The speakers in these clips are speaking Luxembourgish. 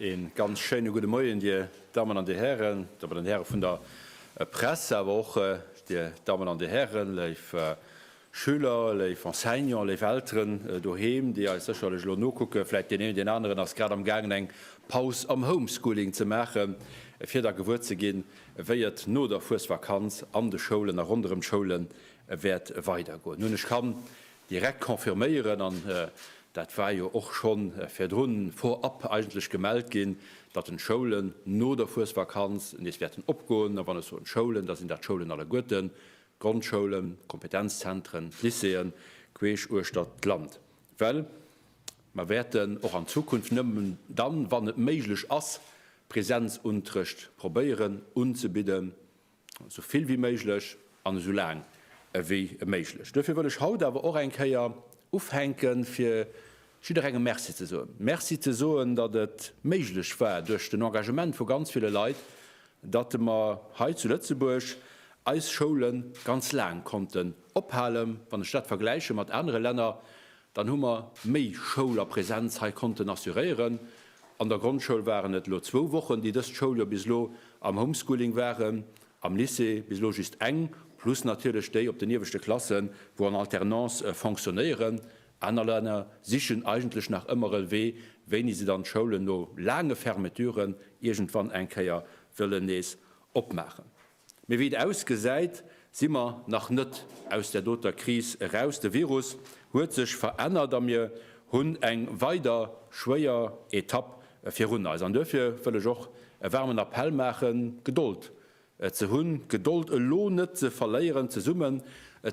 Een ganz schéine gudde Moien, Dir Dammen an Dir Hären, Dammen an Häre vun der Press, awer och Dir Dammen an Dir Hären, léif Schüler, léif Enseignanten, léif Elteren doheem, déi eis sécherlech elo nokucken. Vläit deen een, deen aneren ass grad am gaangen, eng Paus am Homeschooling ze maachen, fir da gewuer ze ginn, wéi et no der Fuesvakanz an de Schoulen a ronderëm d'Schoulen Et wäert weider goen, hunn ech kann direkt confirméieren, an dat war jo och scho virdrun vorab eigentlech gemellt ginn, datt den d'Schoulen no der Fuesvakanz nees wäerten opgoen. A wann ech soen d'Schoulen, da sinn dat d'Schoulen alleguerten, d'Grondschoulen, d'Kompetenzzentren, d'Lycéeën queesch uechter d'Land, well mer wäerten och an Zukunft nëmmen dann, wann et méiglech ass, Präsenzunterrecht probéieren unzebidden. Esou vill wéi méiglech an esou laang ewéi méiglech. Duerfir wëll ech haut awer och eng Kéier ufänken, fir jidderengem Merci ze soen. Merci ze soen, datt et méiglech war, duerch den Engagement vu ganz ville Leit, datt mer hei zu Lëtzebuerg eis Schoule ganz laang konnten ophalen, wann ech dat vergläiche mat anere Länner, Dann hu mer méi Schoul a Präsenz hei konnten assuréieren. An der Grondschoul waren et elo zwou Wochen, déi dëst Schouljoer bis elo am Homeschooling waren, am Lycée bis elo just eng, plus natierlech déi op den ieweschte Klassen, wou an Alternance fonctionnéieren. Aner Länner sichen eigentlech nach ëmmer e Wee, wéini se dann d'Schoulen no laange Fermeturen iergendwann eng Kéier wëllen nees opmaachen. Mee wéi et ausgesäit, si mer nach net aus där doter Kris eraus. De Virus huet sech verännert a mir hunn eng weider schwéier Etapp virun eis. An duerfir wëll ech och e waarmen Appell maachen, Gedold ze hunn, d'Gedold elo net ze verléieren, zesummen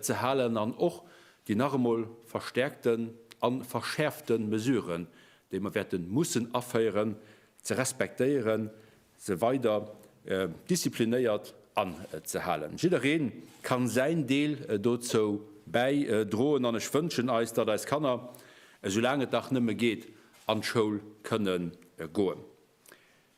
ze halen an och déi nach emol verstäerkten a verschäerfte Mesuren, déi mer wäerte mussen aféieren, ze respektéieren, se weider disziplinéiert anzehalen. Jidderee ka säin Deel dozou bäidroen an ech wënschen eis, datt eis Kanner, esou laang et dach nëmme geet, an d'Schoul kënne goen.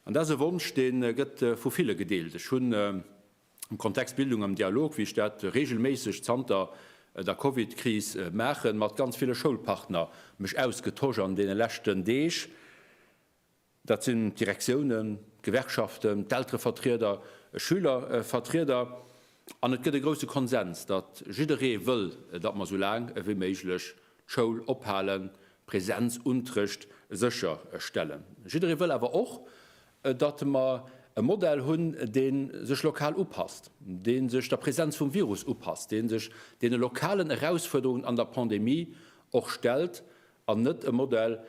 An dat ass e Wonsch, dee gëtt vu ville gedeelt. Ech hunn am Kontext Bildung am Dialog, wéi ech dat reegelméisseg zanter der Covid-Kris maachen, mat ganz ville Schoulpartner mech ausgetosch an deene leschten Deeg. Dat sinn d'Direktiounen, d'Gewerkschaften, d'Elterevertrieder, Schülervertrieder. An et gëtt e grousse Konsens, datt jidderee wëll, datt mer sou laang ewéi méiglech d'Schoul ophalen, Präsenzuntrëcht sécher stellen. Jidderee wëll awer och, datt mer e Modell hunn, dee sech lokal upasst, dee sech der Präsenz vum Virus upasst, dee sech deene lokalen Erausfuerderungen an der Pandemie och stellt An net e Modell,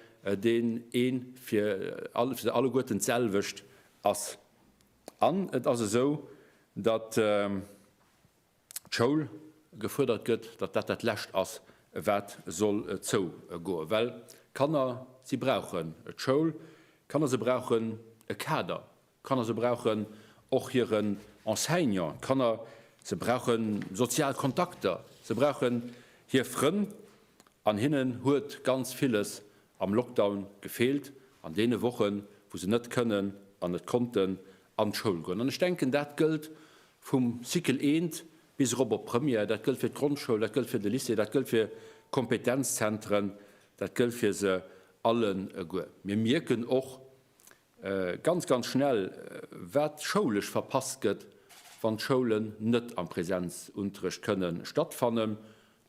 deen ee fir se alleguerten d'selwecht ass. An et ass esou, datt d'Schoul gefuerdert gëtt, datt dat dat Lescht ass, wat soll zougoen. Well d'Kanner, si brauchen d'Schoul. D'Kanner, se brauchen e Kader, Kanner, se brauchen och hiren Enseignant. Kanner, se brauche sozial Kontakter. Se brauchen hir Frënn. An hinnen huet ganz villes am Lockdown gefeelt, an deene Wochen, wou se net kënnen an net konnten an d'Schoul goen. An ech denken, dat gëllt vum Cycle I bis erop op d'Première. Dat gëllt fir d'Grondschoul, dat gëllt fir de Lycée, dat gëllt fir d'Kompetenzzentren, dat gëllt fir se alleguer. Mir mierken och, Ganz, ganz schnell, wat schoulesch verpasst gëtt, wann d'Schoulen net am Presenzunterrecht kënne stattfannen.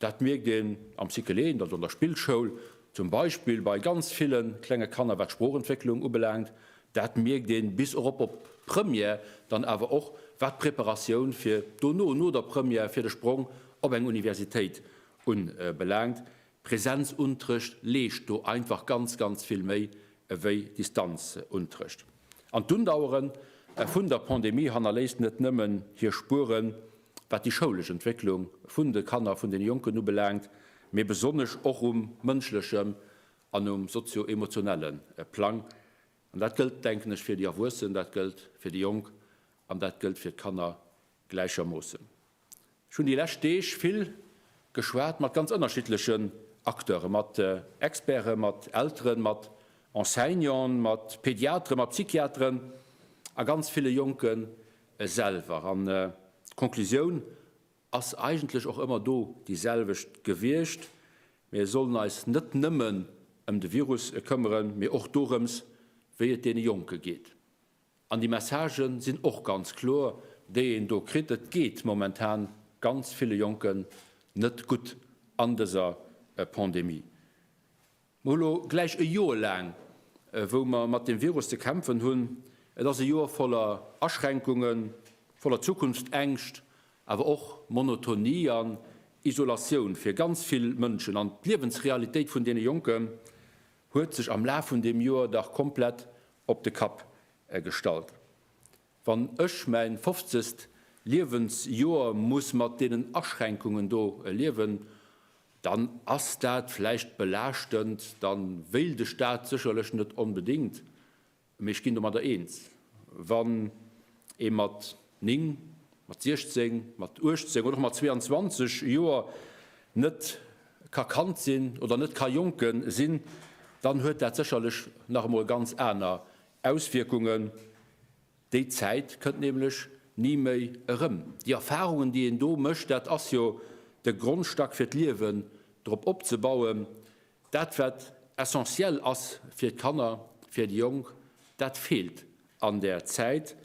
Dat mierkt een am Cycle 1, also an der Spillschoul, zum Beispill bei ganz ville klenge Kanner, wat d'Sproochentwécklung ubelaangt. Dat mierkt een bis erop op d'Première, dann awer och wat d'Preparatioun fir dono, no der Première, fir de Sprong op eng Universitéit unbelaangt. Präsenzuntrëcht leescht do einfach ganz, ganz vill méi ewéi Distanzuntrëcht. An d'Undauere vun der Pandemie hannerléisst net nëmmen hir Spueren, wat déi schoulesch Entwécklung vun de Kanner, vun den Jonken ubelaangt, mee besonnesch och um mënschlechem an um sozio-emotionelle Plang. An dat gëllt, denken ech, fir déi Erwuessen, dat gëllt fir déi Jonk an dat gëllt fir d'Kanner gläichermoossen. Ech hunn déi lescht Deeg vill geschwat mat ganz ënnerschiddlechen Acteuren, mat Experten, mat Elteren, mat Enseignanten, mat Pediateren, mat Psychiateren a ganz ville Jonke selwer. An d'Conclusioun ass eigentlech och ëmmer do déi selwecht gewiescht, Mir sollen eis net nëmmen ëm de Virus këmmeren, mee och dorëms, wéi et deene Jonke geet. An déi Messagen sinn och ganz kloer, déi een do kritt. Et geet momentan ganz ville Jonken net gutt an dëser Pandemie. Mer hu lo gläich e Joer laang, wou mer mat deem Virus ze kämpfen hunn. Et ass e Joer voller Aschränkungen, voller Zukunftsängscht, awer och Monotonie an Isolatioun fir ganz vill Mënschen. An d'Liewensrealitéit vun deene Jonken huet sech am Laf vun deem Joer dach komplett op de Kapp gestallt. Wann ech mäin fofzegst Liewensjoer muss mat deenen Aschränkungen do liewen, dann ass dat vläicht belaaschtend, dann wéilt ech dat sécherlech net onbedéngt, mee ech ginn domadder eens, wann ee mat 9, mat 16, mat 18 oder och mat 22 Joer net ka Kand sinn oder net ka Jonke sinn, dann huet dat sécherlech nach emol ganz aner Auswierkungen. Déi Zäit kënnt nämlech ni méi erëm. Déi Erfarungen, déi een do mécht, dat ass jo de Grondstack fir d'Liewen drop opzebauen. Dat wat essentiel ass fir d'Kanner, fir déi Jonk, dat feelt an där Zäit.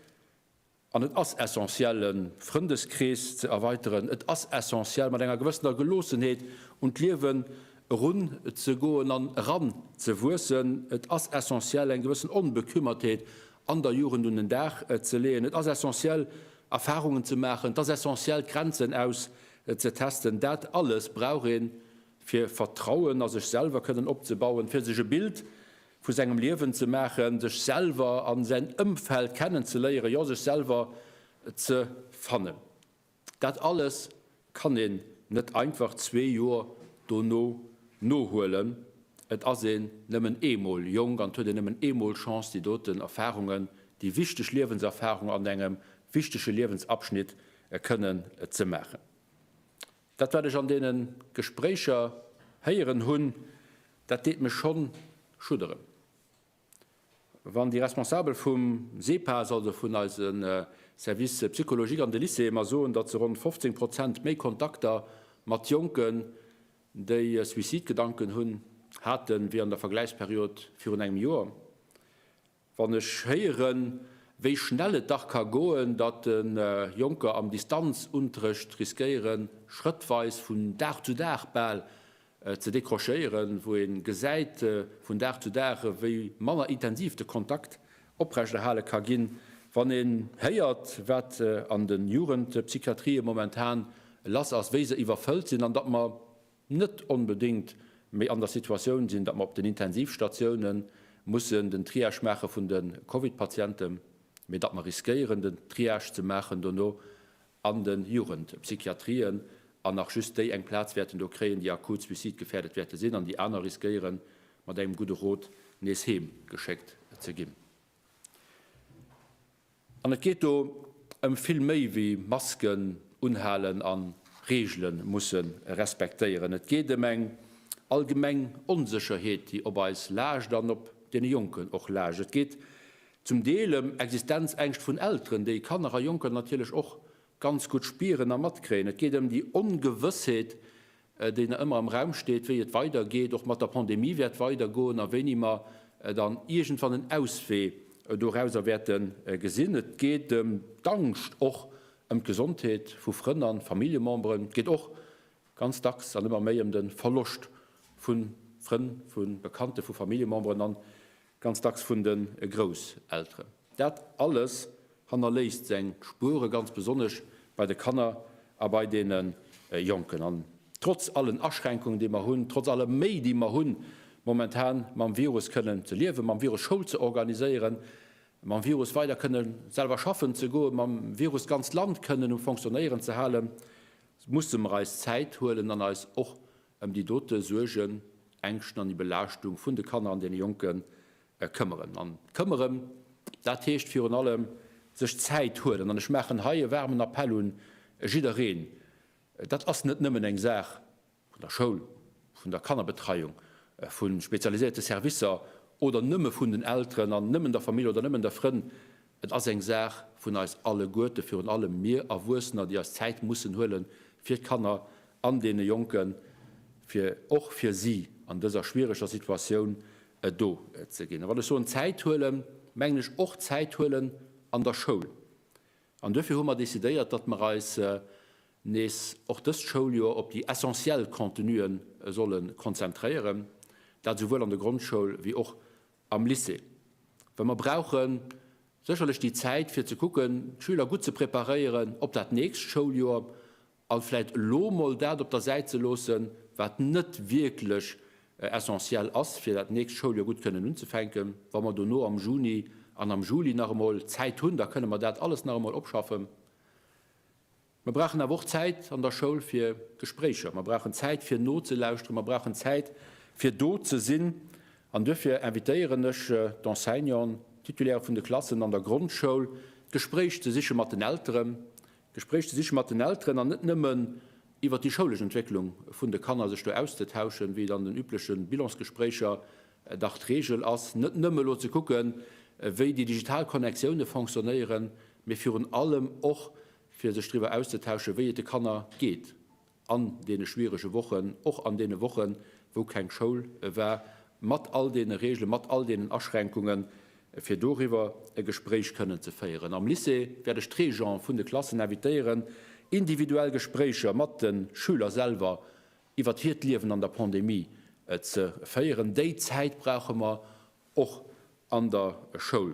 An et ass essentiell, e Frëndeskrees ze erweiteren. Et ass essentiell, mat enger gewëssener Geloossenheet un d'Liewen erun ze goen an eran ze wuessen. Et ass essentiell, eng gewëssen Onbekümmertheet an der Jugend un den Dag ze leeën. Et ass essentiell, Erfahrungen ze maachen. Et ass essentiell, d'Grenzen auszetesten. Dat alles brauch een, fir Vertrauen a sech selwer kënnen opzebauen, fir sech e Bild vu sengem Liewen ze maachen, sech selwer a säin Ëmfeld kennenzeléieren, jo sech selwer ze fannen. Dat alles kann een net einfach zwee Joer dono nohuelen. Et ass een nëmmen eemol jonk an et huet een nëmmen eemol Chance déi doten Erfarungen, déi wichteg Liewenserfarungen an engem wichtege Liewensabschnitt kënnen ze maachen. Dat wat ech an deene Gespréicher héieren hunn, dat deet mech schonn schudderen. Wann déi Responsabel vum Sepas, also vun eise Service psychologique an de Lycéeë mer soen, datt se ronn 15 Prozent méi Kontakter mat Jonken, déi Suicidgedanken hunn, hate wéi an der Vergläichsperiod virun engem Joer, Wann ech héieren, wéi schnell et dach ka goen, datt Jonker am Distanzuntrëcht riskéieren, schrëttweis, vun Dag zu Dag bal, ze décrochéieren, wou ee gesäit vun Dag zu Dag, wéi manner intensiv de Kontakt oprechterhale ka ginn, wann een héiert, wat an de Jugendpsychiatrië momentan lass ass, wéi se iwwerfëllt sinn, an datt mer net onbedéngt méi an der Situatioun sinn, datt mer op den Intensivstatioune mussen den Triage maache vun de Covid-Patienten, mee datt mer riskéieren, den Triage ze maachen dono an de Jugendpsychiatrien an nach just déi eng Plaz wäerten do kréien, déi akut suicidgefährdet wäerte sinn, an déi aner riskéieren, mat engem gudde Rot nees heem geschéckt ze ginn. An et geet do ëm vill méi wéi Masken unhalen a Reegele musse respektéieren. Et geet ëm eng allgemeng Onsécherheet, déi op eis laascht an op deene Jonken och laascht. Et geet zum Deel ëm Existenzängscht vun Elteren, déi Kanner a Jonker natierlech och ganz gutt spieren a matkréien. Et geet ëm déi Ongewëssheet, deen ëmmer am Raum steet, wéi et weidergeet, och mat der Pandemie wäert weidergoen a wéini mer dann iergendwann en Auswee dorauser wäerte gesinn. Et geet ëm d'Angscht och ëm d'Gesondheet vu Frënn a Familljememberen. Et geet och ganz dacks an ëmmer méi ëm de Verloscht vu Frënn, vu Bekannten, vu Familljememberen an Ganz dacks vun de Grousselteren. Dat alles hannerléisst seng Spuere ganz besonnesch bei de Kanner a bei deene Jonken. An trotz allen Aschränkungen, déi mer hunn, trotz aller Méi, déi mer hunn, momentan mam Virus kënnen ze liewen, mam Virus Schoul ze organiséieren, mam Virus weider kënne selwer schaffen ze goen, mam Virus d'ganzt Land kënnen um Fonctionnéieren ze halen, musse mer eis Zäit huelen an eis och ëm déi dote Suergen, Ängschten an déi Belaaschtung vun de Kanner an deene Jonke këmmeren. An këmmeren, dat heescht virun allem sech Zäit huelen. An ech maachen hei e waarmen Appell un jiddereen, Dat ass net nëmmen eng Saach vun der Schoul, vun der Kannerbetreiung, vu spezialiséierte Servicer oder nëmme vun den Elteren an nëmmen der Famill oder nëmmen der Frënn, Et ass eng Saach vun eis alleguerte, virun allem mir Erwuessener, déi eis Zäit mussen huele fir d'Kanner an deene Jonken, fir och fir si an dëser schwiereger Situatioun do ze ginn. A wann ech soen Zäit huele mengen ech och Zäit huelen an der Schoul. An duerfir hu mer decidéiert, datt mer eis nees och dëst Schouljoer op déi essentiell Contenuen solle konzentréieren, dat esouwuel an der Grondschoul wéi och am Lycée, well mer brauche sécherlech déi Zäit fir ze kucken, d'Schüler gutt ze preparéieren op dat nächst Schouljoer a vläicht elo mol dat op der Säit ze loossen, wat net wierklech essentiell ass, fir dat nächst Schouljoer gutt kënnen unzefänken. Wa mer dono am Juni an am Juli nach emol Zäit hunn, da kënne mer dat alles nach emol opschaffen. Mer brauchen awer och Zäit an der Schoul fir Gespréicher. Mer brauchen Zäit fir nozelauschteren. Mer brauchen Zäit fir do ze sinn. An duerfir invitéieren ech d'Enseignanten, d'Titulaire vun de Klassen an der Grondschoul, d'Gespréich ze siche mat den Elteren, d'Gespréich ze siche mat den Elteren an net nëmmen iwwert déi schoulesch Entwécklung vun de Kanner sech do auszetauschen, wéi et an den übleche Bilansgespréicher dach d'Regel ass, net nëmme elo ze kucken, wéi déi digital Connectiounen fonctionnéieren, mee virun allem och, fir sech driwwer auszetauschen, wéi et de Kanner geet an deene schwierege Wochen, och an deene Wochen, wou keng Schoul war, mat all deene Reegelen, mat all deenen Aschränkungen, fir doriwwer e Gespréich kënnen ze féieren. Am Lycée wäert ech d'Régenten vun de Klassen invitéieren, individuell Gespréicher mat de Schüler selwer iwwert hiert Liewen an der Pandemie ze féieren. Déi Zäit brauche mer och an der Schoul.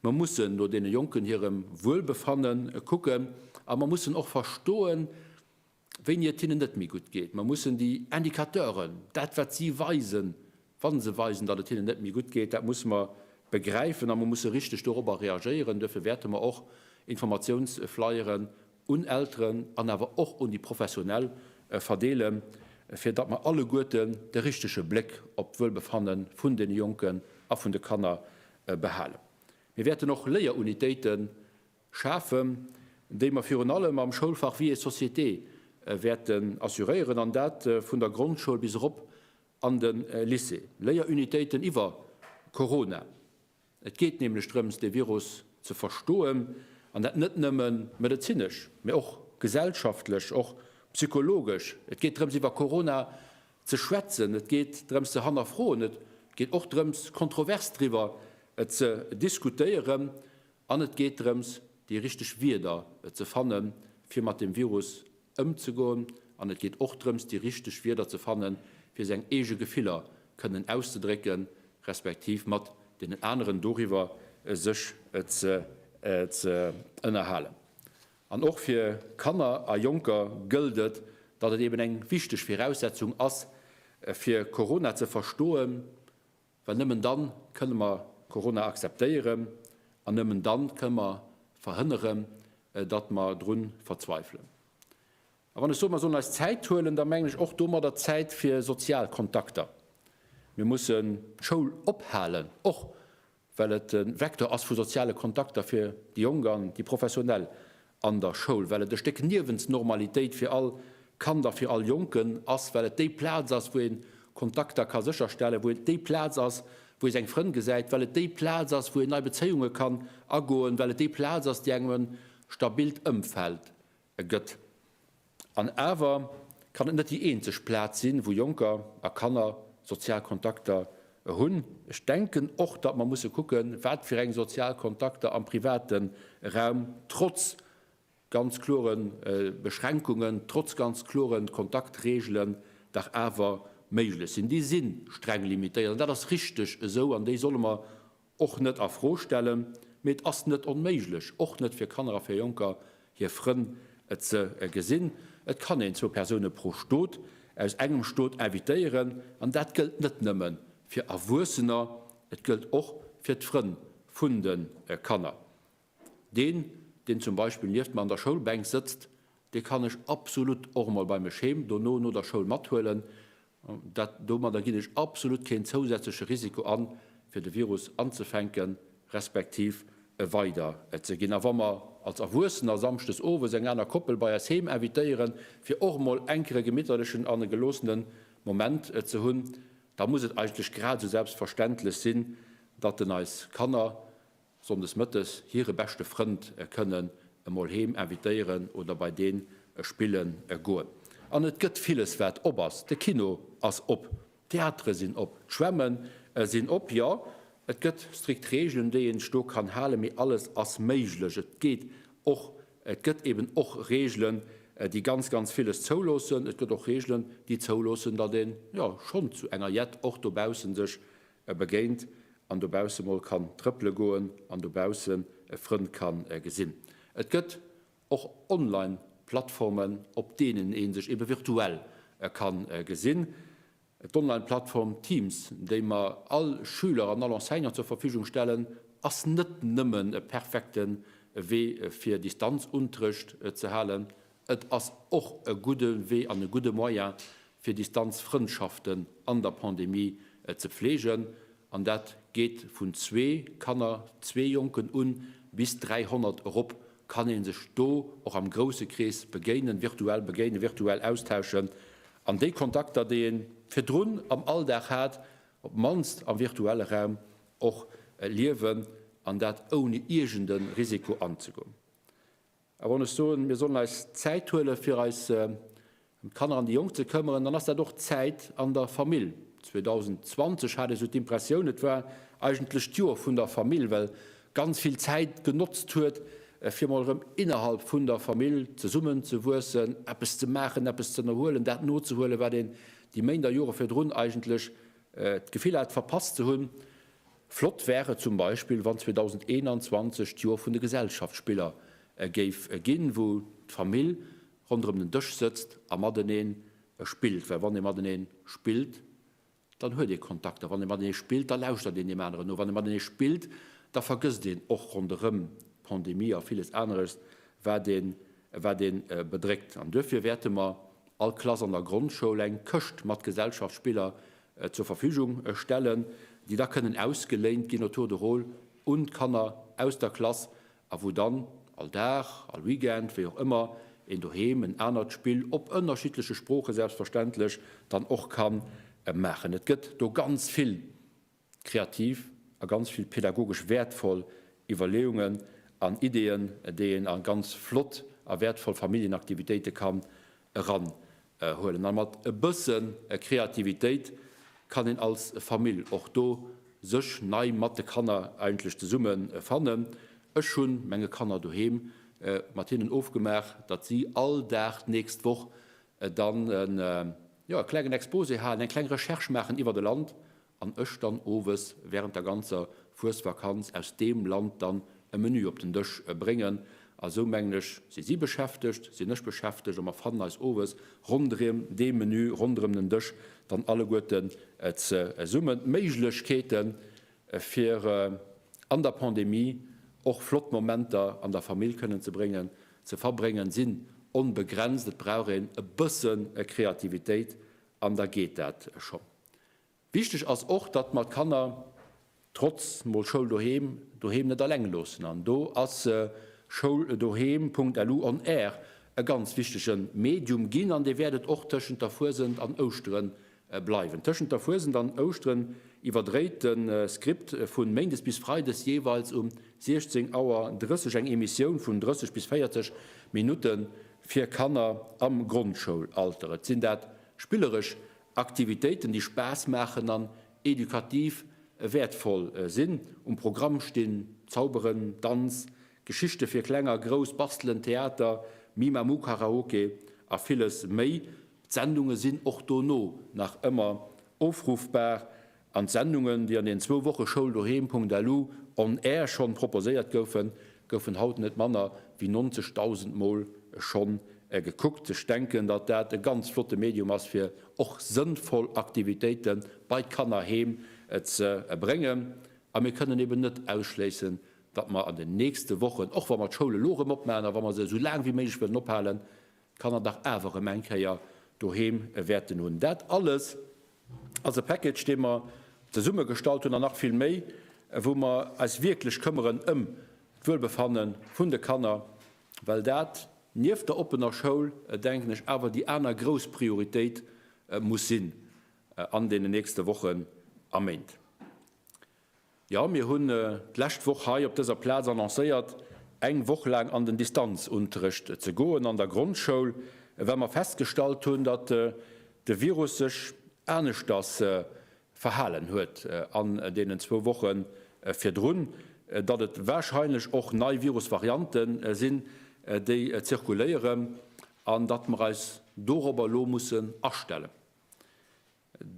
Mer mussen no deene Jonken hirem Wuelbefanne kucken a mer mussen och verstoen, wéini et hinnen net méi gutt geet. Mer mussen déi Indicateuren, dat wat si weisen, wa se weisen, datt et hinnen net méi gutt geet, dat musse mer begräifen a mer musse richteg dorobber reagéieren. Duerfir wäerte mer och Informatiounsflyere un Elteren an awer och un déi Professionell verdeele fir datt mer alleguerten de richtege Bléck op d'Wuelbefanne vun deene Jonken a vun de Kanner behalen. Mir wäerten och Léierunitéite schafen, déi mer virun allem am Schoulfach Vie et société wäerten assuréieren an dat vun der Grondschoul bis erop an de Lycée. Léierunitéiten iwwer Corona. Et geet nämlech drëms, dee Virus ze verstoen, an dat net nëmme medezinesch, mä och gesellschaftlech, och psychologesch. Et geet drëms, iwwer Corona ze schwätzen, et geet drëms, ze hannerfroen, et geet och drëms, kontrovers driwwer ze diskutéieren, an et geet drëms, déi richteg Wieder ze fanne fir mat dem Virus ëmzegoen an et geet och drëms déi richteg Wierder ze fannen fir seng eege Gefiller kënnen auszedrécken, respektiv mat deenen aneren doriwwer sech ze ënnerhalen. An och fir Kanner a Jonker gëllt et, datt et eben eng wichteg Viraussetzung ass fir Corona ze verstoen, Well nëmmen dann kënnen mer Corona akzeptéieren an nëmmen dann kënnen mer verhënneren, datt mer drun verzweifelen. A wann ech soen, mer sollen eis Zäit huelen, da mengen ech och domadder Zäit fir sozial Kontakter. Mir mussen d'Schoul ophalen, och well et e Vecteur ass vu soziale Kontakter fir déi Jonk an déi Professionell an der Schoul, well et e Stéck Niewensnormalitéit fir all Kand a fir all Jonken ass, well et déi Plaz ass, wou ee Kontakter ka sécherstellen, wou et déi Plaz ass, wou ee seng Frënn gesäit, well et déi Plaz ass, wou een nei Bezéiunge kann agoen, well et déi Plaz ass, déi engem e stabilt Ëmfeld gëtt. An awer kann et net déi eenzeg Plaz sinn, wou Jonker a Kanner sozial Kontakter hunn. Ech denken och, datt mer musse kucken, wat fir eng sozial Kontakter am private Raum, trotz ganz klore Beschränkungen, trotz ganz klore Kontaktreegelen, dach awer méiglech sinn. Déi si streng limitéiert, an dat ass richteg esou, an déi solle mer och net a Fro stellen, mee et ass net onméiglech, och net fir Kanner a fir Jonker hir Frënn, et ze gesinn. Et kann een zwou Persoune pro Stot aus engem Stot invitéieren, an dat gëllt net nëmme fir Erwuessener, et gëllt och fir d'Frënn vun de Kanner. Deen, deen zum Beispill nieft mer an der Schoulbänk sëtzt, dee kann ech absolut och emol bei mech heem dono no der Schoul mathuelen. Dat, domadder ginn ech absolut keen zousätzleche Risiko an, fir de Virus anzefänken, respektiv e weider ze ginn. A wa mer als Erwuessener samschdes owes eng aner Koppel bei eis heem invitéieren, fir och emol enker e gemitterlechen an e geloossene Moment ze hunn, da muss et eigentlech grad esou selbstverständlech sinn, datt en eis Kanner, Sonndes mëttes hire beschte Frënd kënnen emol heem invitéieren oder bei deen spille goen. An et gëtt villes, wat op ass. De Kino ass op, d'Theatere sinn op, d'Schwämme sinn op. Jo, et gëtt strikt Reegelen, déi een sech do kann halen, mee alles ass méiglech. Et geet och, et gëtt eeben och Reegelen, déi ganz, ganz villes zouloossen. Et gëtt och Reegelen, déi zouloossen, datt ee jo schonn zu enger Jett och dobausse sech e begéint an dobausse mol kann trëppele goen an dobaussen e Frënd ka gesinn. Et gëtt och online Plattformen, op deenen ee sech ebe virtuell ka gesinn. D'online Plattform Teams, déi mer all Schüler an all Enseignant zur Verfügung stellen, ass net nëmmen e perfekte Wee fir Distanzunterrecht ze halen, Et ass och e gudde Wee an e gudde Moyen, fir Distanzfrëndschaften an der Pandemie ze pflegen. An dat geet vun zwee Kanner, zwee Jonken un, bis 300 erop kann ee sech do och am grousse Krees begéinen, virtuell begéinen, virtuell austauschen. An déi Kontakter, déi ee virdrun am Alldag hat, op d'mannst am virtuelle Raum och liewen, an dat ouni iergende Risiko anzegoen. A wann ech soen, mir sollen eis Zäit huelen, fir eis ëm d'Kanner an déi Jonk ze këmmeren, dann ass dat och d'Zäit an der Famill. 2020 hat ech esou d'Impressioun, et war eigentlech d'Joer vun der Famill, well ganz vill Zäit genotzt huet, fir emol erëm innerhalb vun der Famill zesummen ze wuessen, eppes ze maachen, eppes z'ënnerhuelen, dat nozehuelen, wat een déi Méint a Jore virdrun eigentlech d'Gefill hat, verpasst ze hunn. Flott wär et zum Beispill, wann 2021 d'Joer vun de Gesellschaftsspiller géif ginn, wou d'Famill ronderëm den Dësch sëtzt a mateneen spillt. Well wann ee matenee spillt, dann huet ee Kontakt. A wann ee matenee spillt, da lauschtert een deem aneren no. Wann ee matenee spillt, da vergësst een och ronderëm d'Pandemie a villes aneres, wat ee bedréckt. An duerfir wäerte mer all Klass an der Grondschoul eng Këscht mat Gesellschaftsspiller zur Verfügung stellen, déi da kënnen ausgeléint ginn au tour de rôle un d'Kanner aus der Klass a wou dann all Dag, all Weekend, wéi och ëmmer, een doheem en anert Spill, op ënnerschiddleche Sproochen selbstverständlech, dann och ka maachen. Et gëtt do ganz vill kreativ a ganz vill pädagogesch wäertvoll Iwwerleeungen an Ideeën, déi een a ganz flott a wäertvoll Familljenaktivitéite kann eran Huelen an mat e bëssen Kreativitéit kann een als Famill och do sëch nei mat de Kanner eigentlech zesummen fannen. Ech hun menge Kanner doheem mat hinnen ofgemaach dat si all Dag d'nächst Woch dann en klengen Exposé haalen, eng kleng Recherche maachen iwwert e Land an ech dann owes während der ganzer Fuesvakanz aus deem Land dann e Menü op den Dësch bréngen. A sou mengen ech, si si beschäftegt, sinn ech beschäftegt a mer fannen eis owes rondrém dee Menü, rondrëm den Dësch dann alleguerten zesummen. D'Méiglechkeete fir an der Pandemie och flott Momenter an der Famill kënnen ze bréngen, ze verbréngen, sinn onbegrenzt. Et brauch een e bëssen Kreativitéit an da geet dat schonn. Wichteg ass och, datt mer d'Kanner trotz mol Schoul doheem doheem net alleng loossen. An do ass Schoul doheem Punkt LU on Air e ganz wichtege Medium ginn an dee wäert et och tëschent der Fuesent an Ouschtere bleiwen. Tëschent der Fuesent an Ouschtere iwwerdréit de Script vu méindes bis freides jeeweils um 16 Auer 30 eng Emissioun vun 30 bis 40 Minutte fir Kanner am Grondschoulalter. Et sinn dat spilleresch Aktivitéiten déi Spaass maachen an edukativ wäertvoll sinn um Programm stinn, Zauberen, Danz, Geschichte fir Kleng a Grouss, Bastelen, Theater, Mimamu, Karaoke a villes méi. D'Sendunge sinn och dono nach ëmmer ofruffbar An d'Sendungen, déi an den zwou Woche Schouldoheem.lu on air schonn proposéiert goufen, goufen haut net manner wéi 90.000 Mol schonn gekuckt. Ech denken, datt dat e ganz flotte Medium ass, fir och sënnvoll Aktivitéite bei d'Kanner heem ze bréngen. A mir kënnen eben net ausschléissen, datt mer an den nächste Wochen, och wa mer d'Schoul elo erëm opmachen a wa mer se esou laang wéi méiglech wëllen ophalen, d'Kanner dach awer erëm eng Kéier doheem wäerten hunn. Dat alles ass e Package, dee mer zesummegestallt hunn, an nach vill méi, wou mer eis wierklech këmmeren ëm d'Wuelbefanne vun de Kanner, well dat nieft der oppener Schoul, denken ech, awer déi aner grouss Prioritéit muss sinn an deenen nächste Wochen a Méint. Jo, mir hunn d'lescht Woch hei op dëser Plaz annoncéiert, eng Woch laang an den Distanzunterrecht ze goen an der Grondschoul, well mer festgestallt hunn, datt de Virus sech aneschters verhalen huet an deenen zwou Woche virdrun, datt et warscheinlech och nei Virusvariante sinn, déi zirkuléieren an datt mer eis dorobber elo mussen astellen.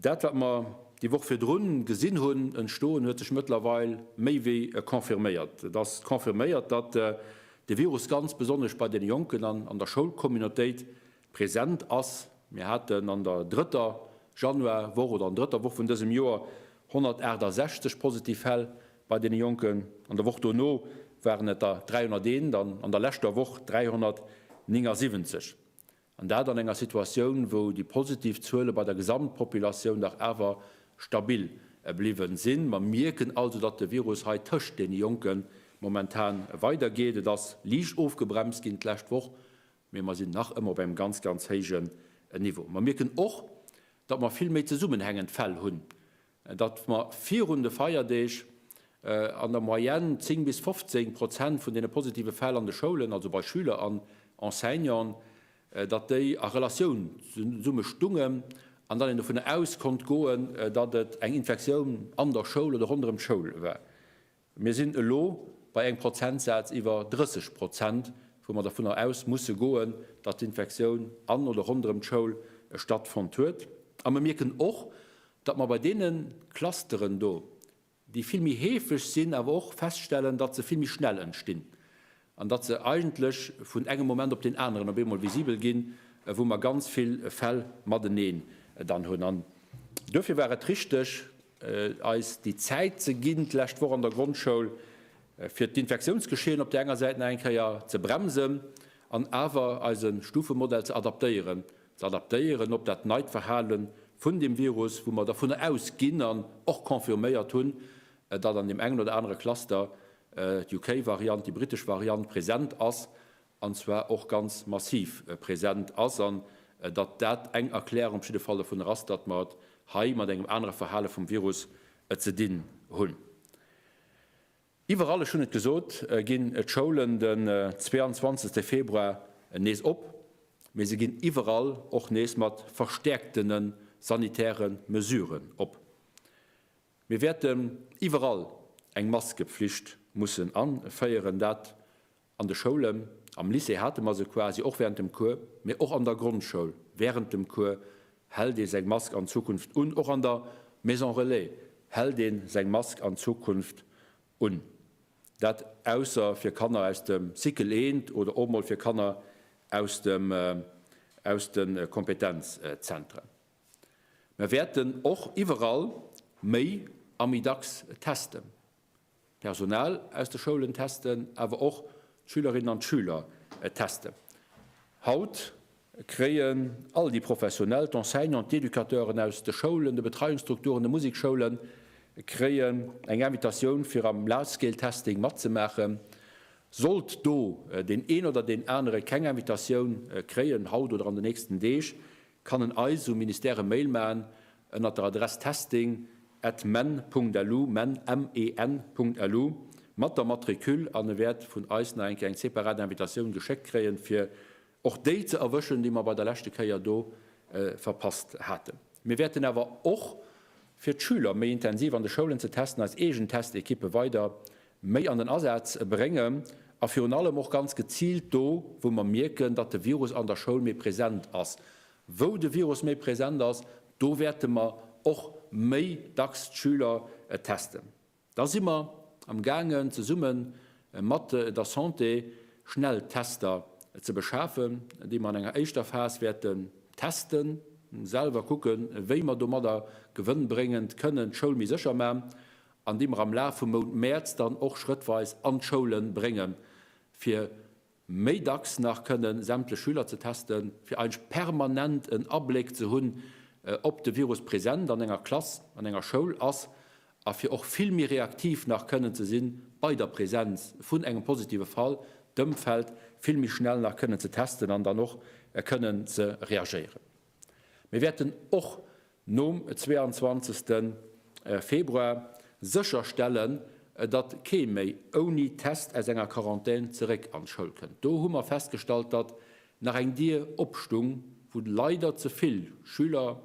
Dat wat mer déi Woch virdrun gesinn hunn entstoen, huet sech mëttlerweil méi wéi confirméiert. Et ass confirméiert, datt de Virus ganz besonnesch bei deene Jonken an an der Schoulcommunautéit present ass. Mir haten an der drëtter Januarwoch oder an drëtter Woch vun dësem Joer 168 positiv Fäll bei deene Jonken. An der Woch dono waren et der 301 an an der leschter Woch 379. An dat an enger Situatioun, wou déi positiv Zuele bei der Gesamtpopulatioun dach awer stabil bliwwen sinn. Mer mierken also, datt de Virus hei tëscht deene Jonken momentan weidergeet. Et ass liicht ofgebremst ginn d'lescht Woch, mee mer sinn nach ëmmer op engem ganz, ganz héijen Niveau. Mer mierken och, datt mer vill méi zesummenhängend Fäll hunn, datt mer virun de Feierdeeg an der Moyenne 10 bis 15 Prozent vun deene positive Fäll an de Schoulen, also bei Schüler an Enseignanten, datt déi a Relatioun zesumme stungen an datt een dovunner aus konnt goen, datt et eng Infektioun an der Schoul oder ronderëm d'Schoul war. Mir sinn elo bei engem Prozentsaz iwwer 30 Prozent, wou mer dovunner aus musse goen, datt d'Infektioun an oder ronderëm d'Schoul stattfonnt huet. A mer mierken och, datt mer bei deene Clusteren do, déi vill méi heefeg sinn, awer och feststellen, datt se vill méi schnell entstinn. an datt se eigentlech vun engem Moment op deen aneren op eemol visibel ginn, wou mer ganz vill Fäll mateneen dann hunn. An duerfir war et richteg, eis déi Zäit ze ginn, d'lescht Woch an der Grondschoul, fir d'Infektiounsgeschehen op där enger Säit nach eng Kéier ze bremsen an awer eise Stufemodell ze adaptéieren, ze adaptéieren op dat neit Verhale vun deem Virus, wou mer dervunner ausginn an och confirméiert hunn, datt an deem engen oder anere Cluster d'UK-Variant, déi britesch Variant, present ass, an zwar och ganz massiv present ass, an datt dat eng Erklärung op jidde Fall dovunner ass, datt mer et hei mat engem anere Verhale vum Virus ze dinn hunn. Iwwerall, ech hunn et gesot, ginn d'Schoulen den 22. Februar nees op, mee se ginn iwwerall och nees mat verstäerktene sanitäre Mesuren op. Mir wäerten iwwerall eng Maskepflicht mussen an féieren. Dat an de Schoulen, am Lycée hate mer se quasi och während dem Cours, mä och an der Grondschoul während dem Cours hält ee seng Mask an Zukunft un. Och an der Maison relais hält ee seng Mask an Zukunft un. Dat ausser fir Kanner aus dem Cycle 1 oder och emol fir Kanner aus de Kompetenzzentren. Mer wäerten och iwwerall méi a méi dacks testen, d'Personal aus de Schoulen testen, awer och d'Schülerinnen an d'Schüler testen. Haut kréien all déi Professionell, d'Enseignanten, d'Educateuren aus de Schoulen, de Betreiungsstrukturen, de Museksschoulen, kréien eng Invitatioun fir am Large-Scale-Testing matzemaachen. Sollt do deen een oder deen anere keng Invitatioun kréien, haut oder an de nächsten Deeg, kann en eis um Ministère e Mail maachen ënnert der Adress testing at men.lu, men, M-E-N, .lu, mat der Matricule an e wäert vun eis nach eng Kéier eng separat Invitatioun geschéckt kréien, fir och déi ze erwëschen, déi mer bei der leschte Kéier do verpasst haten. Mir wäerten awer och, fir d'Schüler méi intensiv an de Schoulen ze testen, eis eegen Test-Ekippe weider méi an den Asaz bréngen a virun allem och ganz geziilt do, wou mer mierken, datt de Virus an der Schoul méi present ass. Wou de Virus méi present ass, do wäerte mer och méi dacks d'Schüler testen. Da si mer am gaangen, zesumme mat der Santé Schnelltester ze beschafen, déi mer an enger éischter Phas wäerten testen, selwer kucken, wéi mer domadder gewënnbréngend kënnen d'Schoul méi sécher maachen an déi mer am Laf vum Mount Mäerz dann och schrëttweis an d'Schoule brénge fir méi dacks nach kënnen sämtlech Schüler ze testen, fir eigentlech permanent en Abléck ze hunn, ob de Virus present an enger Klass, an enger Schoul ass, a fir och vill méi reaktiv nach kënnen ze si bei der Presenz vun engem positive Fall, d'Ëmfeld vill méi schnell nach kënnen ze testen an dann och kënnen ze reagéieren. Mir wäerten och nom 22. Februar sécher stellen, datt kee méi ouni Test aus enger Quarantän zeréck an d'Schoul kënnt. Do hu mer festgestallt, datt nach eng Dier opstung, wou leider ze vill Schüler,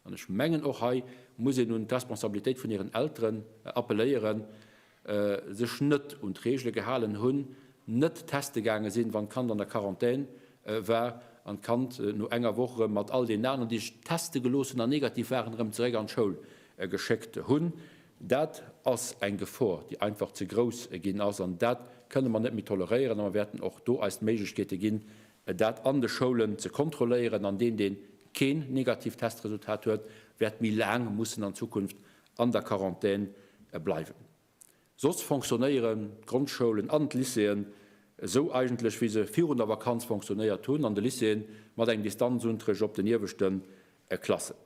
an ech mengen och hei muss een un d'Responsabilitéit vun hiren Elteren appelléieren, sech net un d'Reegele gehalen hunn, net teste gaange sinn, wann d'Kand an der Quarantän war, an d'Kand no enger Woch erëm mat all deenen aneren, déi sech teste gelooss hunn an negativ waren, erëm zeréck an d'Schoul geschéckt hunn. Dat ass eng Gefor, déi einfach ze grouss ginn ass, an dat kënne mer net méi toleréieren. A mer wäerten och do eis d'Méiglechkeete ginn, dat an de Schoulen ze kontrolléieren. An deen, dee keen negativt Testresultat huet, wäert méi laang mussen an Zukunft an der Quarantän bleiwen. Soss fonctionnéieren d'Grondschoulen an d'Lycéeën esou eigentlech, wéi se virun der Vakanz fonctionnéiert hunn, an de Lycéeën mat engem Distanzunterricht op den ieweschte Klassen.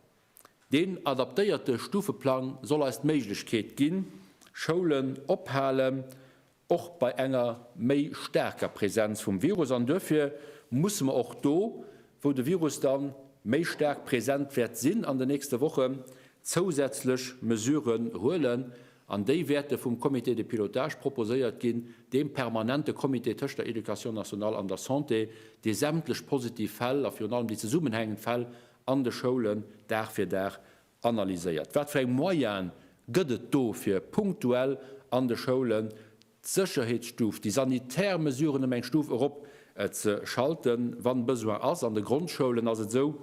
Deen adaptéierte Stufeplang soll eis d'Méiglechkeet ginn, Schoulen ophalen och bei enger méi staarker Präsenz vum Virus, an duerfir musse mer och do, wou de Virus da méi staark präsent wäert sinn an den nächste Wochen, zousätzlech Mesuren huelen, an déi wäerte vum Comité de pilotage proposéiert ginn, deem permanente Comité tëscht der Éducation nationale an der Santé, dee sämtlech positiv Fäll a virun allem déi zesummengehängend Fäll an de Schoulen Dag fir Dag Analyséiert, wat fir eng Moyene gëtt et do, fir punktuell an de Schoulen d'Sécherheetsstuf, déi sanitär Mesuren ëm eng Stuf erop ze schalten, wann Besoin ass. An de Grondschoulen ass et esou,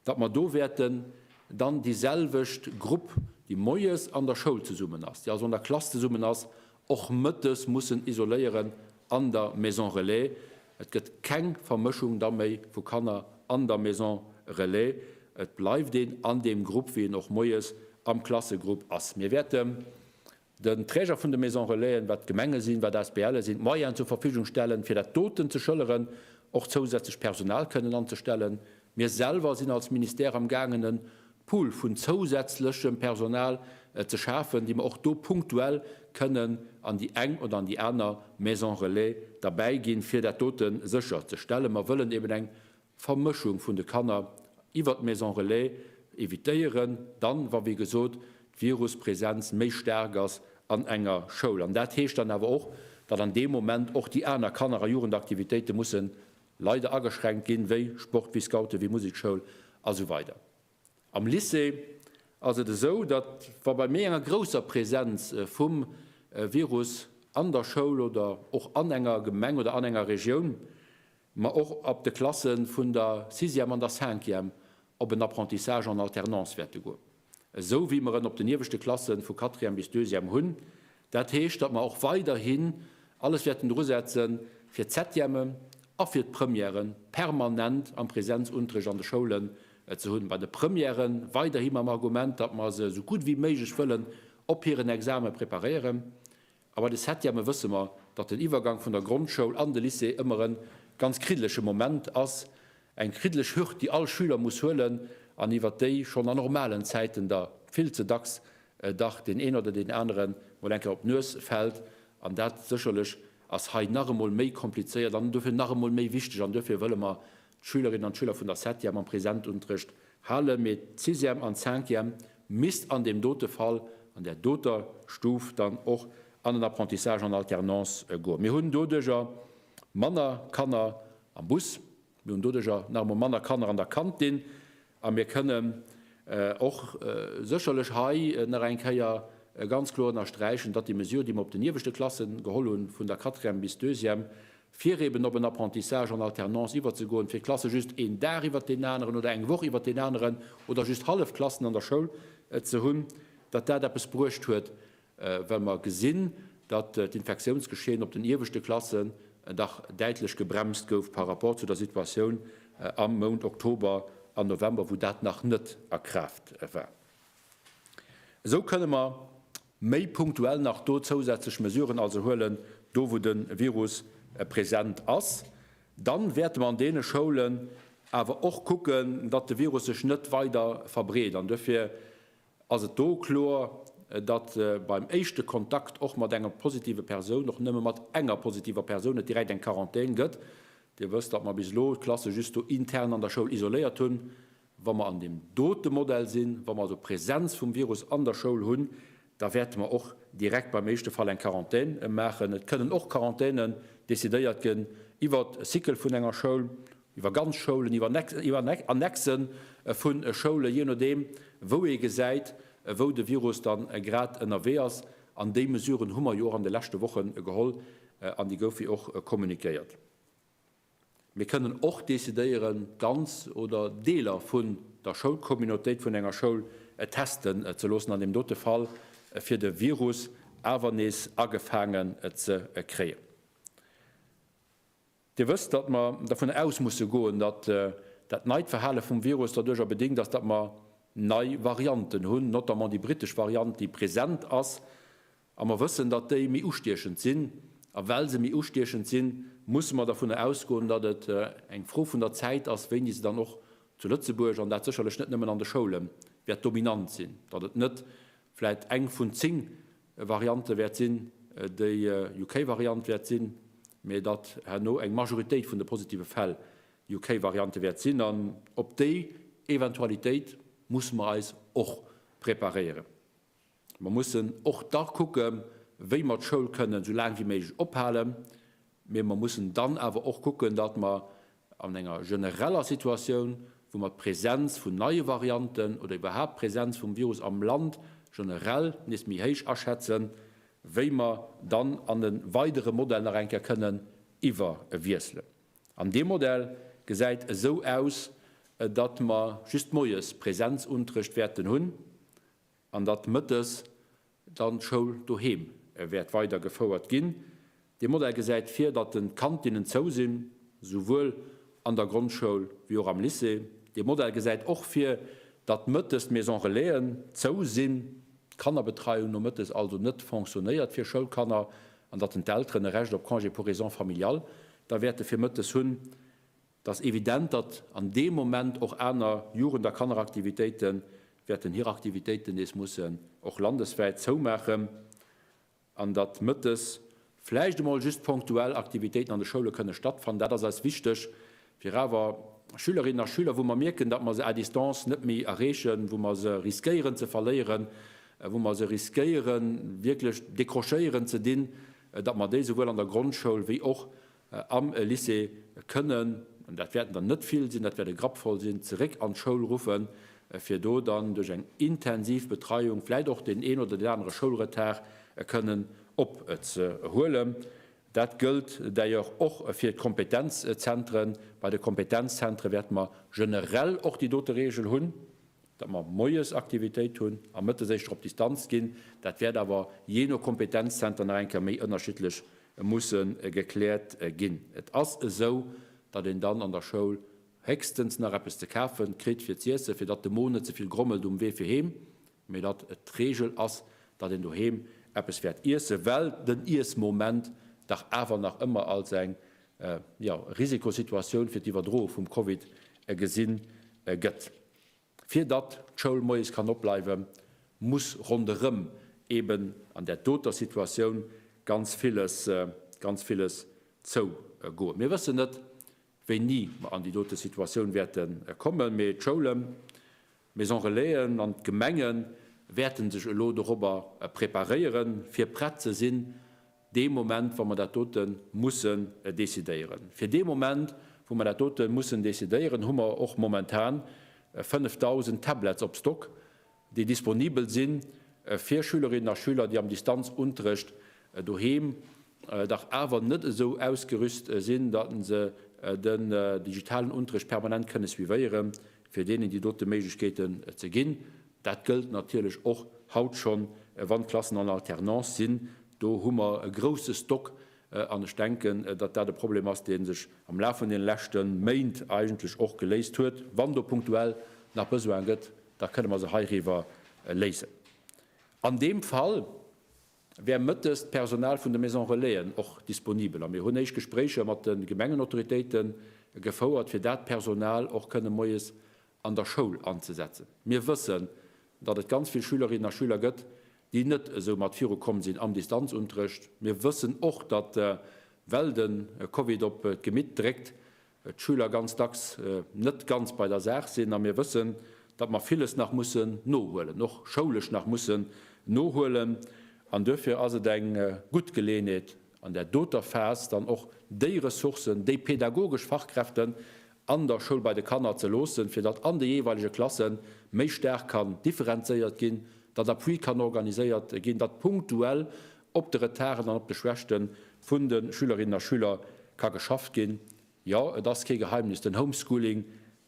datt mer do wäerten dann déi selwecht Grupp, déi moies an der Schoul zesummen ass, déi also an der Klass zesummen ass, och mëttes mussen isoléieren an der Maison relais. Et gëtt keng Vermëschung da méi vu Kanner an der Maison relais. Et bleift een an deem Grupp, wéi een och moies am Klassegrupp ass. Mir wäerten den Träger vun de Maison relaisen, wat d'Gemenge sinn, wat d'ASBLe sinn, d'Moyenen zur Verfügung stellen, fir dat doten ze schëlleren, och zousätzlech Personal kënnen anzestellen, Mir selwer sinn als Ministère am gaangen e Pool vun zousätzlechem Personal ze schafen, déi mer och do punktuell kënnen an déi eng oder an déi aner Maison relais derbäi ginn, fir dat dote sécher ze stellen. Mer wëllen eben eng Vermëschung vun de Kanner iwwert d'Maison relais evitéieren, dann, wa wéi gesot d'Viruspresenz méi staark ass an enger Schoul. An dat heescht dann awer och, datt an deem Moment och déi aner Kanner a Jugendaktivitéite mussen Leider ageschränkt ginn, wéi Sport, wéi Scouten, wéi Musekschoul a sou weider. Am Lycée ass et esou, datt wa bei méi enger grousser Präsenz vum Virus an der Schoul oder och an enger Gemeng oder an enger Regioun, mer och ab de Klasse vun der Sixième an der Cinquième op en Apprentissage en alternance wäerte goen. esou wéi mer en op den ieweschte Klassen, vu Quatrième bis Deuxième, hunn. Dat heescht, datt mer och weiderhin alles wäerten dru setzen, fir d'Septième a fir d'Première permanent am Präsenzunterricht an de Schoulen ze hunn. Bei de Premièrë weiderhi mam Argument, datt mer se esou gutt wéi méiglech wëllen op hiren Exame preparéieren. A bei de Septième wësse mer, datt den Iwwergang vun der Grondschoul an de Lycée ëmmer e ganz kriddeleche Moment ass, eng kriddeleg Hürd, déi all Schüler muss huelen an iwwert déi schonn a normalen Zäiten der vill ze dacks dach deen een oder deen anere mol eng Kéier op d'Nues fält. An dat sécherlech ass hei nach emol méi komplizéiert an dofir nach emol méi wichteg. An duerfir wëlle mer d'Schülerinnen an d'Schüler vun der Septième am Präsentunterrecht halen, mee d'Sixième an d'Cinquième misst an deem dote Fall, an där doter Stuf dann och an en Apprentissage en alternance goen. Mir hunn doduerjer manner Kanner am Bus, mir hunn doduerjer nach emol manner Kanner an der Kantin, A mir kënnen och sécherlech hei nach eng Kéier ganz kloer ënnersträichen, datt déi Mesure, déi mer op den ieweschte Klasse geholl hunn, vun der Quatrième bis Deuxième, fir eben op en Apprentissage en alternance iwwerzegoen, fir d'Klasse just een Dag iwwert deen aneren oder eng Woch iwwert deen aneren oder just hallef Klassen an der Schoul ze hunn, datt dat eppes bruecht huet. well mer gesinn, datt d'Infektiounsgeschehen op den ieweschte Klassen dach däitlech gebremst gouf par rapport zu der Situatioun am Mount Oktober an November, wou dat nach net a Kraaft war. Esou kënne mer méi punktuell nach do zousätzlech Mesuren also huelen, do wou de Virus present ass. Dann wäerte mer an deene Schoulen awer och kucken, datt de Virus sech net weider verbreet an duerfir ass et do kloer, datt beim éischte Kontakt och mat enger positive Persoun, och nëmme mat enger positiver Persoun, et direkt eng Quarantän gëtt. Dir wësst, datt mer bis elo d'Klasse just do intern an der Schoul isoléiert hunn. Wa mer an deem dote Modell sinn, wa mer also Präsenz vum Virus an der Schoul hunn, da wäerte mer och direkt beim éischte Fall eng Quarantän maachen. Et kënnen och Quarantänen decidéiert ginn iwwert e Cycle vun enger Schoul, iwwer ganz Schoulen, iwwer Annexen vu Schoulen, jee nodeem wou ee gesäit, wou de Virus da grad ënnerwee ass. An déi Mesuren hu mer jo och an de leschte Woche geholl an déi goufe jo och kommuniquéiert. Mir kënnen och decidéieren, ganz oder Deeler vun der Schoulcommunautéit, vun enger Schoul testen ze loossen an deem dote Fall, fir de Virus awer nees agefaangen ze kréien. Dir wësst, datt mer dervun aus musse goen, datt dat neit Verhale vum Virus derduercher bedingt ass, datt mer nei Varianten hunn, notamment déi britesch Variant, déi present ass, a mer wëssen, datt déi méi ustiechend sinn. A well se méi ustiechend sinn, musse mer dervun ausgoen, datt et eng Fro vun der Zäit ass, wéini se dann och zu Lëtzebuerg, an dat sécherlech net nëmmen an de Schoule wäert dominant sinn, datt et net vläit eng vun zéng Variante wäert sinn, déi UK-Variant wäert sinn, mä datt herno eng Majoritéit vun de positive Fäll UK-Variante wäert sinn. An op déi Eventualitéit musse mer eis och preparéieren. Mer mussen och da kucken, wéi mer d'Schoul kënnen esou laang wéi méiglech ophalen, Mee mer mussen dann awer och kucken, datt mer an enger genereller Situatioun, wou mer d'Präsenz vun neie Varianten oder iwwerhaapt d'Präsenz vum Virus am Land generell nees méi héich aschätzen, wéi mer dann an e weidere Modell nach eng Kéier kënnen iwwerwiesselen. An dee Modell gesäit esou aus, datt mer just moies Präsenzunterrecht wäerten hunn. an datt mëttes dann d'Schoul doheem wäert weider gefouert ginn. Dee Modell gesäit vir, datt den d'Kantinnen zou sinn, souwuel an der Grondschoul wéi och am Lycée. Dee Modell gesäit och vir, datt mëttes d'Maison Relaisen zou sinn, d'Kannerbetreiung nomëttes also net fonctionnéiert fir Schoulkanner, an datt den d'Elteren e Recht op Congé pour raisons familiales da wäerte fir mëttes hunn. Et ass evident, datt an deem Moment och aner Jugend a Kanneraktivitéite wäerten hir Aktivitéiten nees mussen och landeswäit zoumaachen an datt mëttes vläicht emol just ponktuell Aktivitéiten an de Schoule kënne stattfannen. Dat ass eis wichteg, fir awer Schülerinnen a Schüler, wou mer mierken, datt mer se à distance net méi erreechen, wou mer se riskéieren ze verléieren, wou mer se riskéieren wierklech décrochéieren ze dinn, datt mer déi souwuel an der Grondschoul wéi och am Lycée kënnen, an dat wäerten der net vill sinn, dat wäert e Grapp voll sinn, zeréck an d'Schoul ruffen, fir do dann duerch eng intensiv Betreiung vläit och deen een oder deen anere Schoulretard kënnen opzehuelen. Dat gëllt d'ailleurs och fir d'Kompetenzzentren. Bei de Kompetenzzentre wäerte mer generell och déi dote Reegel hunn, datt mer moies Aktivitéit hunn a mëttes éischter op Distanz ginn, dat wäert awer jee no Kompetenzzenter nach eng Kéier méi ënnerschiddlech musse gekläert ginn. Et ass esou, datt een dann an der Schoul héchstens nach eppes ze kafe kritt fir z'iessen, fir datt de Mo net ze vill grommelt um Wee fir heem, mee datt et d'Reegel ass, datt een doheem eppes wäert iesse well den Iessmoment dach awer nach ëmmer als eng, jo, Risikosituatioun fir d'Iwwerdroe vum Covid gesi gëtt. Fir datt d'Schoul moies kann opbleiwe muss ronderëm eben an där doter Situatioun ganz villes, ganz villes zougoen. Mir wëssen net wéini mer an déi dote Situatioun wäerte kommen, mee d'Schoulen, d'Maisons relaisen an d'Gemenge wäerte sech elo dorobber preparéieren, fir prett ze sinn, dee Moment, wa mer dat dote mussen decidéieren. Fir dee Moment, wou mer dat dote mussen decidéieren, hu mer och momentan 5.000 Tablets op Stock, déi disponibel si fir Schülerinnen a Schüler, déi am Distanzunterrecht doheem dach awer net esou ausgerüst sinn, datt se den digitalen Unterrecht permanent kënne suivéieren, fir deenen déi dote Méiglechkeeten ze ginn. Dat gëllt natierlech och haut schonn, wann d'Klassen en alternance sinn. Do hu mer e grouse Stock an ech denken, datt dat e Problem ass, dee sech am Laf vun deene leschte Méint eigentlech och geléist huet. Wann do punktuell nach Besoine gëtt, da kënne mer se heiriwwer léisen. An deem Fall wär mëttes d'Personal vun de Maison relaisen och disponibel a mir hunn éischt Gespréicher mat de Gemengenautoritéite gefouert, fir dat Personal och kënne moies an der Schoul anzesetzen. Mir wëssen, datt et ganz vill Schülerinnen a Schüler gëtt, déi net esou mat viru komm sinn am Distanzunterrecht. Mir wëssen och, datt, well de Covid op d'Gemitt dréckt, d'Schüler ganz dacks net ganz bei der Saach sinn. A mir wëssen, datt mer villes nach mussen nohuelen, och schoulesch nach mussen nohuelen. An duerfir ass et eng gutt Geleeënheet, an där doter Phas dann och déi Ressourcen, déi pädagogesch Fachkräften an der Schoul bei de Kanner ze loossen, fir datt an de jeeweilege Klasse méi staark kann differenzéiert ginn, datt Appui kann organiséiert ginn, datt punktuell op de Retarden an op de Schwächte vun de Schülerinnen a Schüler ka geschafft ginn. Jo, et ass kee Geheimnis, den Homeschooling,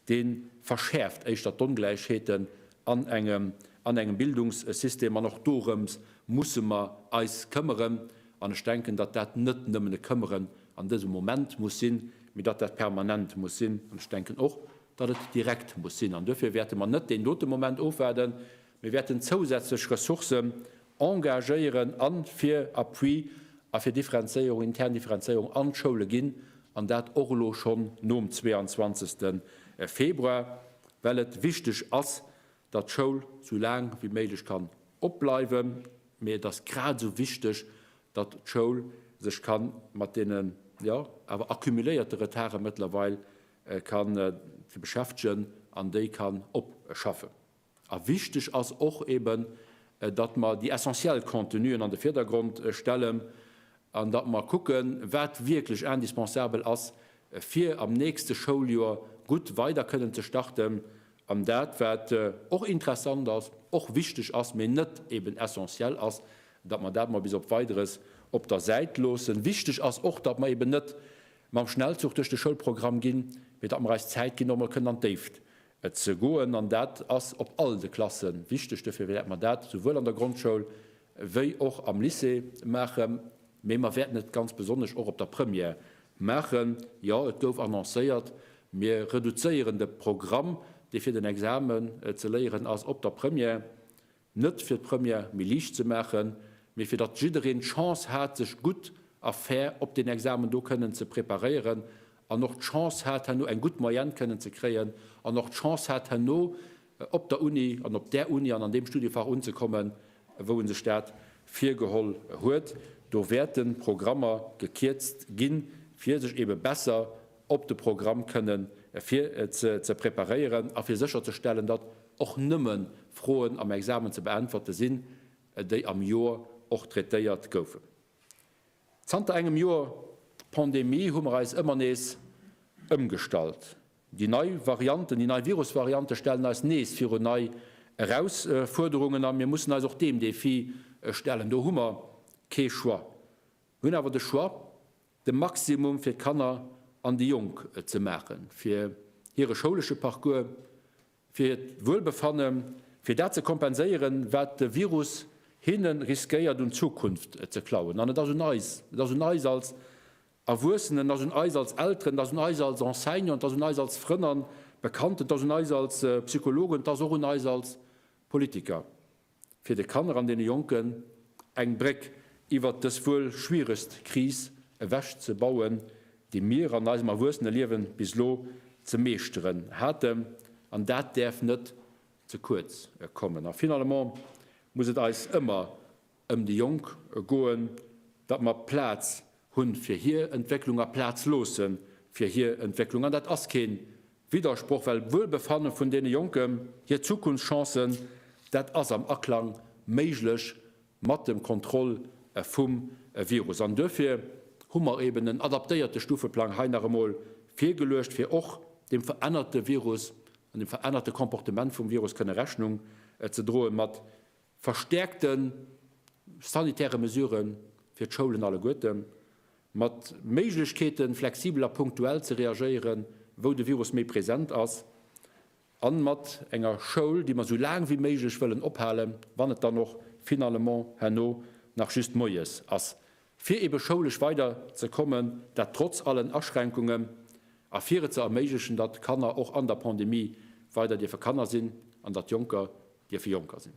dee verschäerft éischter d'Ongläichheeten an engem, an engem Bildungssystem. An och dorëms musse mer eis këmmeren. An ech denken, datt dat net nëmmen e Këmmeren an dësem Moment muss sinn, mee datt dat permanent muss sinn. An ech denken och, datt et direkt muss sinn. An duerfir wäerte mer net deen dote Moment ofwaarden, Mir wäerten zousätzlech Ressourcen engagéieren a fir Appui a fir Differenzéierung, intern Differenzéierung an d'Schoule ginn, an dat och elo schonn nom 22. Februar, well et wichteg ass, datt d'Schoul sou laang wéi méiglech kann opbleiwen, mee et ass grad esou wichteg, datt d'Schoul sech ka mat deene, jo, awer accumuléierte Retarde mëttlerweil ka beschäftegen an déi kann opschaffen. A wichteg ass och eben, datt mer déi essentiell Contenuen an de Virdergrond stellen an datt mer kucken, wat wierklech indispensabel ass, fir am nächste Schouljoer gutt weider kënnen ze starten, an dat, wat och interessant ass, och wichteg ass, mee net eben essentiell ass, datt mer dat mol bis op Weideres op der Säit loossen. Wichteg ass och, datt mer eben net mam Schnellzuch duerch de Schoulprogramm ginn, mee datt mer eis Zäit ginn, och mol kënnen an d'Déift Et ze goen, an dat ass op all de Klasse wichteg. Duerfir wäerte mer dat souwuel an der Grondschoul wéi och am Lycée maachen, mee mer wäerten et ganz besonnesch och op der Première maachen. Jo, et gouf annoncéiert, mir reduzéieren de Programm, dee fir den Examen ze léieren ass op der Première. Net fir d'Première méi liicht ze maachen, mee fir datt jiddereen d'Chance hat, sech gutt a fair op deen Examen do kënnen ze preparéieren an och d'Chance hat, herno eng gutt Moyenne kënnen ze kréien an och d'Chance hat, herno op der Uni an op där Uni an an deem Studiefach unzekommen, wou e sech dat virgeholl huet. Do wäerten d'Programmer gekierzt ginn, fir sech eebe besser op de Programm kënnen fir ze preparéieren a fir sécherzestellen, datt och nëmme Froen am Examen ze beäntwerte sinn, déi am Joer och traitéiert goufen. Zanter engem Joer Pandemie hu mer eis ëmmer nees ëmgestallt. Déi nei Varianten, déi nei Virusvariante stellen eis nees virun nei Erausfuerderungen a mir mussen eis och deem Defi stellen. Do hu mer kee Choix. Mir hunn awer de Choix, de Maximum fir d'Kanner an déi Jonk ze maachen, fir hire schoulesche Parcours, fir hiert Wuelbefannen, fir dat ze kompenséieren, wat de Virus hinne riskéiert un Zukunft ze klauen. An et ass un eis, et ass un eis als Erwuessenen, et ass un eis als Elteren, et ass un eis als Enseignanten, et ass un eis als Frënn a Bekannten, et ass un eis als Psychologen, et ass och un eis als Politiker, fir de Kanner an deene Jonken eng Bréck iwwert dës wuel schwieregst Kris ewech ze bauen, déi mir an eisem Erwuesseneliewen bis elo ze meeschteren haten, an dat däerf net ze kuerz kommen. A finalement muss et eis ëmmer ëm déi Jonk goen, datt mer Plaz hu fir hir Entwécklung a Plaz loosse fir hir Entwécklung, an dat ass kee Widdersproch, well d'Wuelbefanne vun deene Jonken, hir Zukunftschancen, dat ass am Aklang méiglech mat dem Contrôle vum Virus. An duerfir hu mer eben en adaptéierte Stufeplang hei nach emol virgeluecht, fir och deem verännerte Virus an dem verännerte Comportement vum Virus kënne Rechnung ze droen, mat Verstäerkte sanitäre Mesurë fir d'Schoulen alleguerten, mat Méiglechkeeten, flexibel a punktuell ze reagéieren, wou de Virus méi present ass, a mat enger Schoul, déi mer esou laang wéi méiglech wëllen ophalen, wann et dann och finalement herno nach just moies ass. fir ebe schoulesch weider ze kommen, dat trotz allen Aschränkungen, a fir et ze erméiglechen, datt Kanner och an der Pandemie weider dierfe Kanner sinn an datt Jonker dierfe Jonker sinn.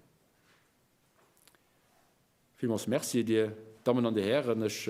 Villmools Merci, Dir Dammen an Dir Hären. Ech.